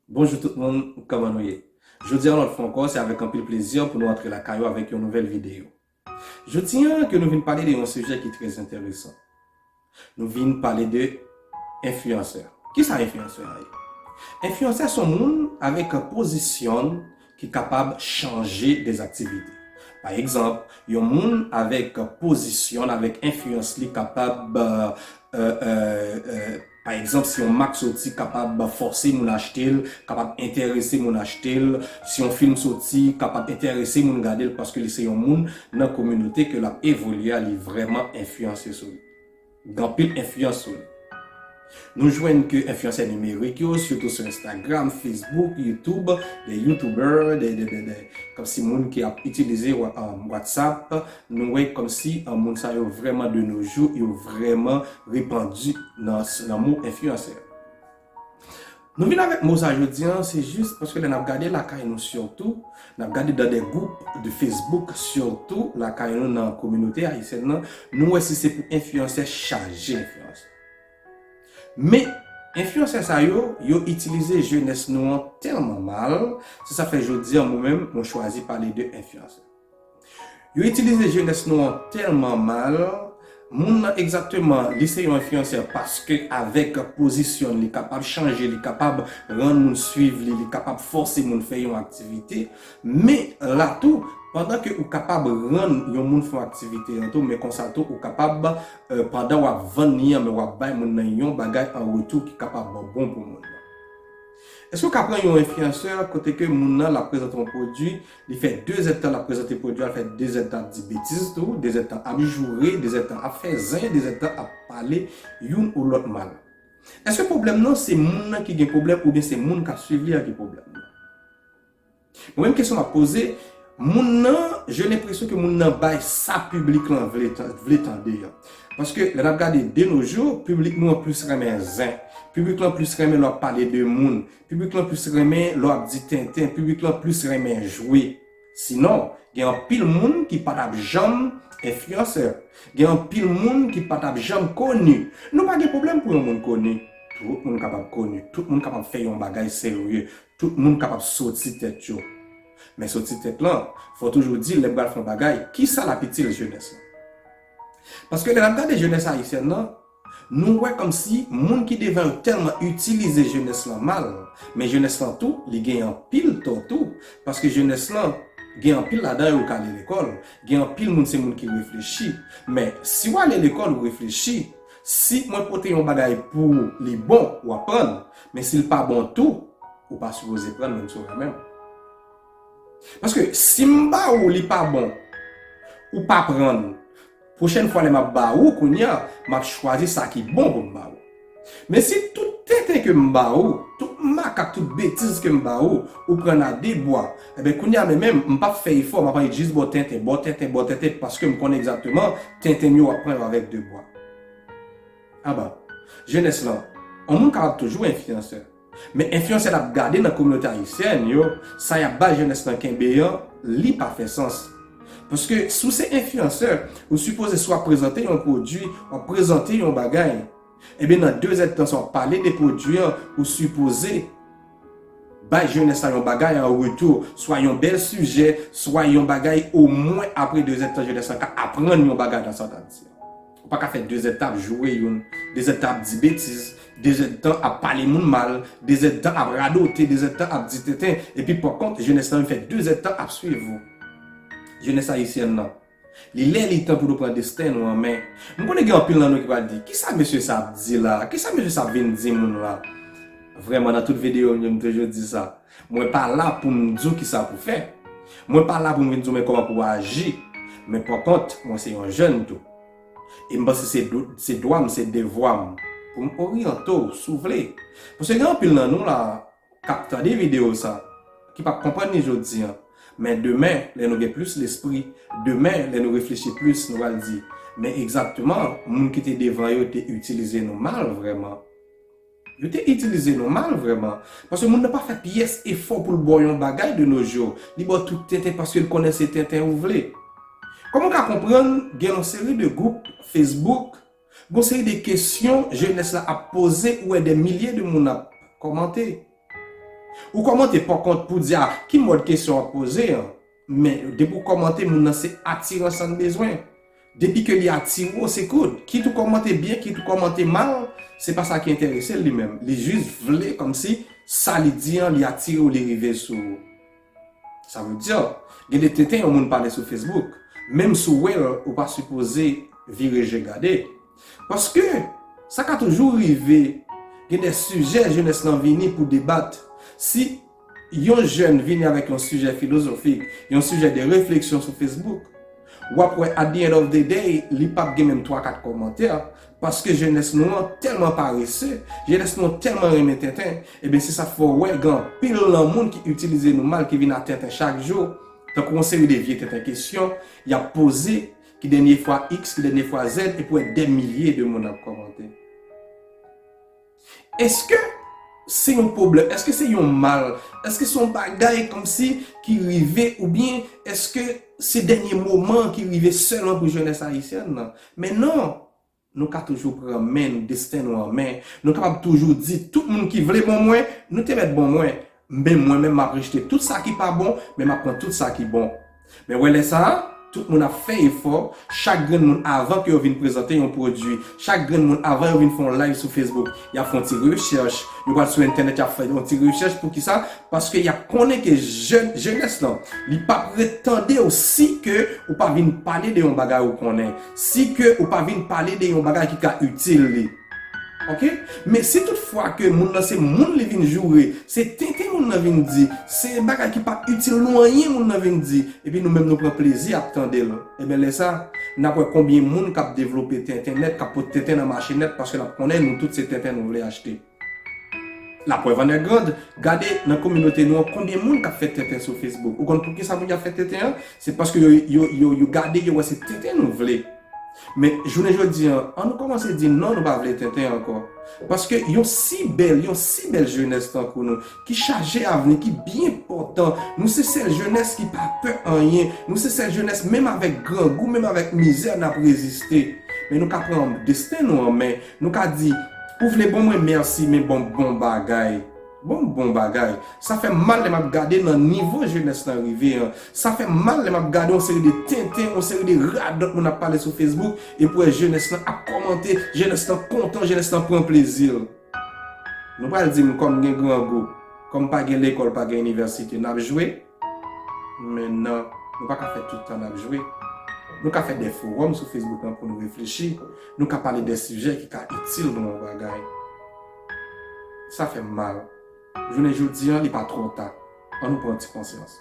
Bonjou tout moun kòman nou ye jodi an lòt fwa ankò se avèk anpil plezi pou nou antre lakay ou avèk yon nouvèl videyo jodi an ke nou vin pale de yon sijè ki trè enteresan nou vin pale de enfliyansè kisa enfliyansè an ye enfliyansè son moun avèk pozisyon ki kapab chanje des activités pa egzanp yon moun avèk pozisyon l avèk enfliyans li kapab pa egzanp si yon mak soti kapab fòse moun achte l kapab enterese moun achte l si yon film soti kapab enterese moun gade l paske li se yon moun nan kominote ke l ap evolye a li vrèman enfliyanse sou li. Gen anpil enfliyans wi. Nou jwenn ke enfliyansè nimerik yo, sitou sou Instagram, Facebook, YouTube, des youtubeurs, des, des, des, des, kòmsi moun ki ap itilize WhatsApp, nou wè kòmsi moun sa yo vrèman de nos jours, yo vrèman repandu nan mo enfliyansè. Nou vin avèk mo sa jodi an, se jis paske lè n ap gade lakay nou sitou, n ap gade nan de gwoup de fesbouk sitou lakay nou nan kominote ayisyèn nan, nou wè si se pou enfliyansè chaje enfliyansè. Men, enfliyansè sa yo, yo itilize jenès nou an tèlman mal, se sa k fè jodi an mwen menm mwen chwazi pale de enfliyansè. Yo itilize jenès nou an tèlman mal, moun nan egzakteman li se yon enfliyansè paske avèk pozisyon li kapab chanje, li kapab rann moun swiv li, li kapab fòse moun fè yon aktivite, men la tou pandan ke ou kapab rann yon moun fè yon aktivite an tou men konsa tou ou kapab pandan wap vann li an men wap bay moun nan yon bagay an retou ki kapab bon pou moun nan. Eske w ka pran yon enfliyansè kote ke moun nan l ap prezante yon pwodui, li fè dezèdtan l ap prezante pwodui a, l fè dezèdtan ap di betiz tou, dezèdtan ap joure, dezèdtan ap fè zen, dezèdtan ap pale youn ou lòt mal? Eske pwoblèm nan se moun nan ki gen pwoblèm oubyen se moun k ap swiv li a ki pwoblèm nan? Mwen menm kesyon map poze Moun nan je lenpresyon ke moun nan bay sa piblik lan vle tande an Paske lè nap gade de no jou piblik nou an plis renmen zen Piblik lan plis renmen lè wap pale de moun Piblik lan plis renmen lè wap di tenten Piblik lan plis renmen jwe Sinon gen anpil moun ki patap janm enfliyansè Gen anpil moun ki patap janm koni Nou pa gen pwoblèm pou yon moun koni Tout moun kapab koni Tout moun kapab fè yon bagay serye Tout moun kapab soti tèt yo. Men soti tèt lan, fò toujou di lè pral fè yon bagay, ki sa lap itil jenès lan? Paske lè nap gade jenès ayisyèn lan, nou wè kòm si moun ki devan yo tèlman itilize jenès lan mal, men jenès lan tou li gen anpil tò tou, paske jenès lan gen anpil ladan yo k ale lekòl, gen anpil moun se moun ki reflechi, men si w ale lekòl ou reflechi, Si mwen pote yon bagay pou ou li bon ou ap pran l men si l pa bon tou ou pa sipoze pran l menm si w renmen m. Paske si m ba ou li pa bon ou pa pran l pwochèn fwa lè m ap ba ou kounye a m ap chwazi sa ki bon pou m ba ou. Men si tout tenten ke m ba ou, tout makak, tout betiz ke m ba ou, ou pran l a de bwa Enben kounya men menm, m pap fè efò, map annik jis baw tenten, baw tenten, baw tenten paske m konnen egzakteman tenten m yo wap pran yo avèk 2 bwa. Aba. Jenès lan, on moun kapab toujou enfliyansè. Men enfliyansè lap gade nan kominote ayisyèn yo, sa yap bay jenès lan kenbe an, li pa fè sans. Paske si w se enfliyansè, ou sipoze si wap prezante yon pwodui, wap prezante yon bagay Ebyen nan 2 zèd tan sa wap pale de pwodwi an ou sipoze bay jenès la yon bagay an retou, swa yon bèl sijè, swa yon bagay o mwen apre 2 zèd tan jenès la ka aprann yon bagay nan sa w tap di an. Ou pa ka fè 2 zèd tan ap joure yon, 2 zèd tan ap di betiz, 2 zèd tan ap pale moun mal, 2 zèd tan ap radote, 2 zèd tan ap di tenten epi pa kont jenès la menm fè 2 zèd tan ap swiv ou. Jenès ayisyen nan. Li lè li tan pou nou pran desten nou an men. M konnen gen anpil nan nou ki pral di, kisa mesye sa ap di la? Kisa mesye sa ap vin di moun la? Vrèman nan tout videyo m yo m toujou di sa. Mwen pa la pou m di w kisa pou fè. Mwen pa la pou m vin di w men kòman pou w aji. Men pakont, mwen se yon jèn tou. E m panse se dwa m, se devwa m pou m oryante w si w vle. Paske gen anpil nan nou la, kap tande video sa, ki pap konprann ni jodi an, men demen lè nou gen plis lespri, demen lè nou reflechi plis nou pral di, men egzakteman moun ki te devan yo te itilize nou mal vrèman. Yo te itilize nou mal vrèman, paske moun nan pa fè pyès efò poul baw yon bagay de nos jours, li baw tout tenten paskel konnen se tenten ou vle. Kòman ou ka konprann gen yon seri de gwoup Facebook, Gon seri de kesyon jenès la ap poze ou wè dè milye de moun ap kòmante. Ou kòmante pòkont pou di a ki mòd kesyon wap poze an men depi ou kòmante moun nan se atiran san bezwen. Depi ke li atire ou se good. Kit ou kòmante byen kit ou kòmante mal se pa sa ki enterese l li menm. Li jis vle kòmsi sa li di an li atire ou li rive sou ou. Sa vle di gen de tenten yon moun pale sou Facebook, menm si w wè l ou pa sipoze vire je gade. Paske sa ka toujou rive gen de sijè jenès lan vini pou debat. Si yon jèn vini avèk yon sijè filozofik, yon sijè de refleksyon sou Facebook, Wap wè at the end of the day li pap gen menm 3 4 kòmantè paske jenès nou an tèlman parese, jenès nou an tèlman renmen tenten, ebyen se sa k fè w wè gen anpil nan moun ki itilize nou mal ki vin a tenten chak jou tankou yon seri de vye tenten kesyon yap poze ki dènye fwa iks ki dènye fwa zèd epi w wè dè milye de moun ap kòmante. Eske se yon pwoblèm? Eske se yon mal? Eske se yon bagay kòmsi ki rive oubyen eske se dènye moman an ki rive sèlman pou jenès ayisyèn nan? Men non! Nou ka toujou pran men nou, desten nou an men. Nou kapab toujou di, tout moun ki vle bon mwen, nou te mèt bon mwen. Men mwen menm map rejte tout sa ki pa bon, men map pran tout sa ki bon. Men wè lè sa a, tout moun ap fè efò, chak grenn moun avan ke yo vin prezante yon pwodui, chak grenn moun avan yo vin fè yon live sou Facebook, yap fè yon ti rechèch, yo pral sou entènèt yap fè yon ti rechèch pou kisa? Paske yap konnen ke jèn, jenès lan, li pap ret tande w si ke ou pa vin pale de yon bagay ou konnen, si ke ou pa vin pale de yon bagay ki ka itil li. Ok men si tout fwa ke moun nan se moun li vin joure se tenten moun nan vin di se bagay ki pap itil nou anyen moun nan vin di epi nou menm nou pran plezi ap tandel enben lè sa nap wè konbyen moun kap devlope tenten nèt kap pot tenten nan mache nèt paske lap konnen nou tout se tenten nou vle achte la prèv an è grand gade nan kominote nou an konbyen moun kap fè tenten sou Facebook ou konn poukisa moun yo ap fè tenten an se paske yo yo yo yo gade yo wè se tenten nou vle. Men, jounen jodi an, an nou kòmanse di non nou pa vle tenten ankò. Paske yon si bèl, yon si bèl jenès tankou nou, ki chaje avni, ki byen pòtan, nou se sèl jenès ki pa pè anyen, nou se sèl jenès menm avèk grangou, menm avèk mizè n ap reziste. Men nou ka pran desten nou an men, nou ka di, ou vle bon mwen mèsi men banm bon bagay. Bon bon bagay. Sa fè mal lè map gade nan nivo jenès lan rive an. Sa fè mal lè map gade yon seri de tenten, yon seri de radòt moun ap pale sou Facebook epi wè jenès lan ap kòmante, jenès lan kontan, jenès lan pran plezi l. Nou pral di m kòm gen grangou, kòm pa gen lekòl pa gen inivèsite nap jwe? Men nan, nou pa ka fè tout tan nap jwe. Nou ka fè de fowòm sou Facebook lan pou nou reflechi, nou ka pale de sijè ki ka itil nou yon bagay. Sa fè m mal. Jounen jodi an, li pa twò ta. An nou pran ti konsyans.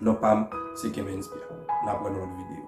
Non pa m, se Kemenspia. N ap wè nan lòt videyo.